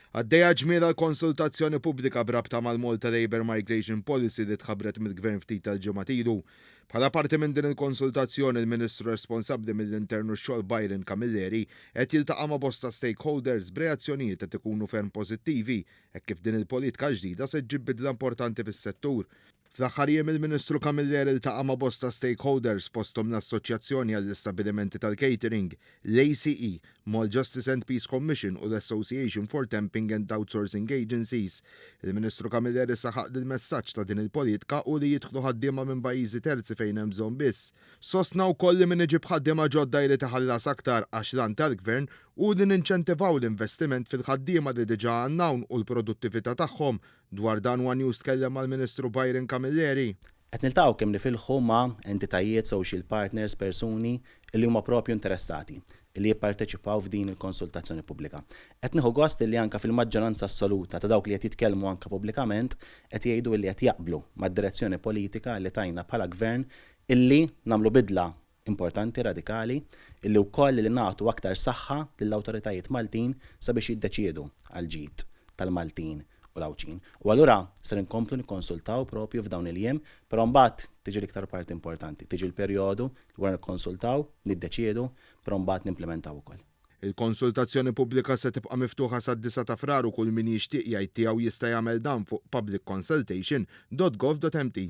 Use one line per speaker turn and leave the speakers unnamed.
Għaddejja ġmielha l-konsultazzjoni pubblika b'rabta mal-Malta Labour Migration Policy li tħabbret mill-Gvern ftit tal-ġimgħat ilu. Bħala parti minn din il-konsultazzjoni, il-Ministru responsabbli mill-Intern u x-Xogħol Byron Camilleri qed jiltaqa' ma' bosta stakeholders b'reazzjonijiet qed ikunu ferm pożittivi hekk kif din il-politka l-ġdida se ġġib bidla importanti fis-settur. Fl-aħħar jiem il-Ministru Camilleri ltaqa' ma' bosta stakeholders fosthom l-Assoċjazzjoni għall-Istabbilimenti tal-Catering, l-ACE, Mall Justice and Peace Commission u l-Association for Temping and Outsourcing Agencies. Il-Ministru Camilleri saħaq li l-messaġġ ta' din il-politka hu li jidħlu ħaddiema minn pajjiżi terzi fejn hemm bżonn biss. Sostna wkoll li min iġib ħaddiema ġodda jrid iħallas aktar għax l-għan tal-Gvern hu li ninċentivaw l-investiment fil-ħaddiema li diġà għandna hawn u l-produttività tagħhom Dwar dan one News tkellem mal-Ministru Byron Camilleri. Qed niltaqgħu kemm
nifilħu ma' entitajiet, social partners, persuni li huma proprju interessati li jipparteċipaw f'din il-konsultazzjoni pubblika. Qed nieħu gost li anke fil-maġġoranza assoluta ta' dawk li qed jitkellmu anke pubblikament qed jgħidu li qed jaqblu mad-direzzjoni politika li tajna bħala Gvern illi nagħmlu bidla importanti, radikali, illi wkoll li nagħtu aktar saħħa lill-awtoritajiet Maltin sabiex jiddeċiedu għall-ġid tal-Maltin u l-Għawdxin. U allura ser inkomplu nikkonsultaw propju f'dawn il-jiem, però mbagħad tiġi l-iktar parti importanti, tiġi l-perjodu li wara nikkonsultaw, niddeċiedu, però mbagħad nimplimentaw ukoll. Il-konsultazzjoni
pubblika se tibqa' miftuħa sad-disgħa ta' Frar u kull min jixtieq jgħid tiegħu jista' jagħmel dan fuq publicconsultation dot gov dot mt.